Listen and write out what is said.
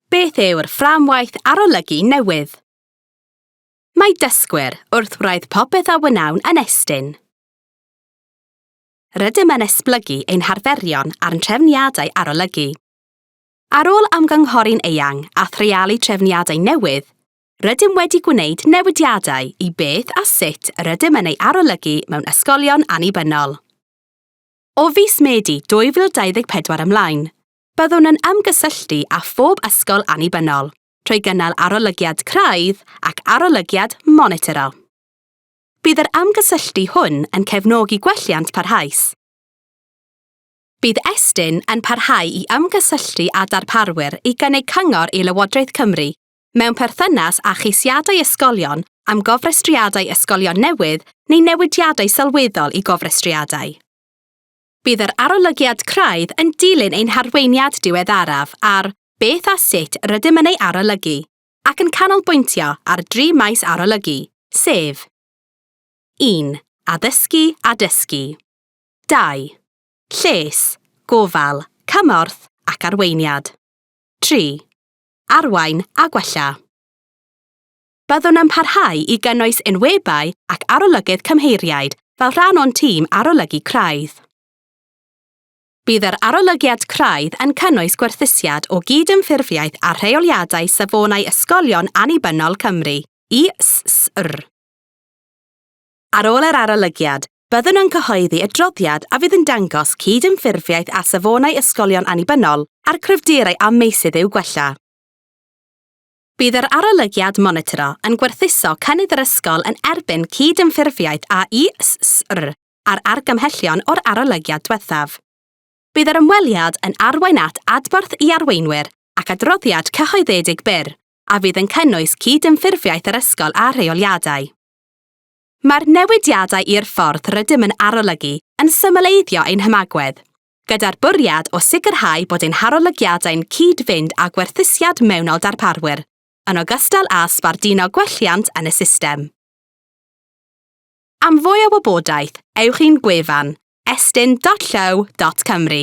Beth yw'r fframwaith arolygu newydd? Mae dysgwyr wrth wraidd popeth a wnawn yn estyn. Rydym yn esblygu ein harferion a'n trefniadau arolygu. Ar ôl ymgynghori'n eang a threialu trefniadau newydd, rydym wedi gwneud newidiadau i beth a sut rydym yn ei arolygu mewn ysgolion annibynnol. O fis Medi 2024 ymlaen, Byddwn yn ymgysylltu â phob ysgol annibynnol trwy gynnal arolygiad craidd ac arolygiad monitro. Bydd yr ymgysylltu hwn yn cefnogi gwelliant parhaus. Bydd Estyn yn parhau i ymgysylltu â darparwyr i gynnig cyngor i Lywodraeth Cymru mewn perthynas â cheisiadau ysgolion am gofrestriadau ysgolion newydd neu newidiadau sylweddol i gofrestriadau. Bydd yr arolygiad craidd yn dilyn ein harweiniad diweddaraf ar beth a sut rydym yn ei arolygu ac yn canolbwyntio ar dri maes arolygu, sef 1. Addysgu a dysgu 2. Lles, gofal, cymorth ac arweiniad 3. Arwain a gwella. Byddwn yn parhau i gynnwys enwebai ac arolygydd cymheiriaid fel rhan o'n tîm arolygu craidd. Bydd yr arolygiad craidd yn cynnwys gwerthusiad o gyd-ymffurfiaeth a rheoliadau Safonau Ysgolion Annibynnol Cymru, ISSR. Ar ôl yr arolygiad, byddwn yn cyhoeddi adroddiad a fydd yn dangos cyd-ymffurfiaeth â Safonau Ysgolion Annibynnol a'r cryfderau a meysydd i'w gwella. Bydd yr arolygiad monitro yn gwerthuso cynnydd yr ysgol yn erbyn cyd-ymffurfiaeth â'i SSR a'r argymhellion o'r arolygiad diwethaf. Bydd yr ymweliad yn arwain at adborth i arweinwyr ac adroddiad cyhoeddedig byr, a fydd yn cynnwys cyd-ymffurfiaeth yr ysgol â rheoliadau. Mae'r newidiadau i'r ffordd rydym yn arolygu yn symleiddio ein hymagwedd, gyda'r bwriad o sicrhau bod ein harolygiadau'n cyd-fynd â gwerthusiad mewnol darparwyr, yn ogystal â sbarduno gwelliant yn y system. Am fwy o wybodaeth, ewch i'n gwefan, estyn.llyw.cymru.